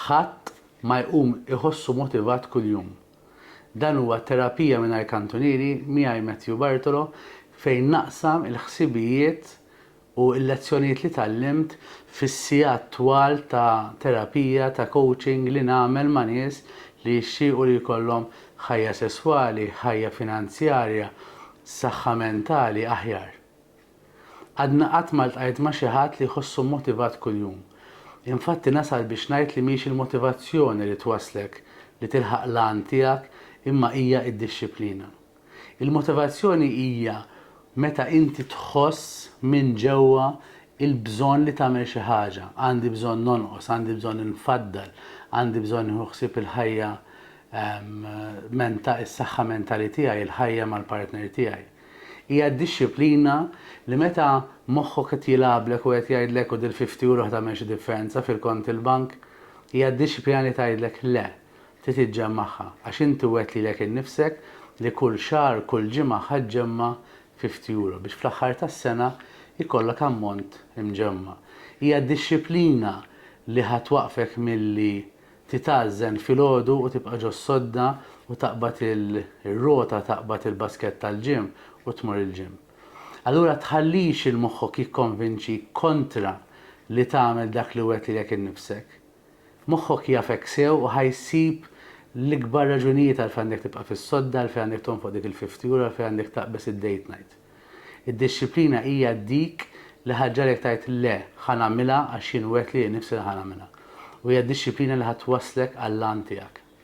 Ħadd ma jqum iħossu motivat kuljum. Dan huwa Terapija Mingħajr Kantunieri miegħi Matthew Bartolo fejn naqsam il-ħsibijiet u l-lezzjonijiet li tgħallimt fis-sigħat twal ta' terapija, ta' coaching li nagħmel ma' nies li jixtiequ li jkollhom ħajja sesswali, ħajja finanzjarja, saħħa mentali aħjar. Għadna qatt ma ltqajt ma' xi ħadd li jħossu mmotivat kuljum. Infatti nasal biex ngħid li mhix il-motivazzjoni li twasslek li tilħaq l-għan tiegħek imma hija d-dixxiplina. Il-motivazzjoni hija meta inti tħoss minn ġewwa l-bżonn li tagħmel xi ħaġa, għandi bżonn nonqos, għandi bżonn infaddal, għandi bżonn nieħu ħsieb il-ħajja, is-saħħa mentali tiegħi, il-ħajja mal-partner tiegħi. Hija d-dixxiplina li meta moħħok qed jilgħablek u qed jgħidlek u dil-fifty euro ħ'tagħmel xi differenza fil-kont il-bank? Hija d-dixxiplina li tgħidlek le, trid iġġemmagħha, għax inti wgħedt lilek innifsek li kull xahar, kull ġimgħa ħ'aġġemma' fifty euro biex fl-aħħar tas-sena jkollok ammont imġemma'. Hija d-dixxiplina li ħa twaqqfek milli Titgħażżen filgħodu u tibqa' ġo s-sodda u taqbad ir-rota taqbad il-baskett tal-gym u tmur il-gym. Allura tħallix il moħħok jikkonvinċik kontra li tagħmel dak li wegħtilek innifsek. Moħħok jafek sew u ħa jsib l-ikbar raġunijiet għalfejn għandek tibqa' fis-sodda, għalfejn għandek tonfoq dik il-fifty euro, għalfejn għandek taqbeż id-date night. Id-dixxiplina hija dik li ħa ġġagħlek tgħid le, ħa nagħmilha għax jien wegħdt lili nnifsi li ħa nagħmilha. U hija d-dixxiplina li ħa twasslek għall-għan tiegħek.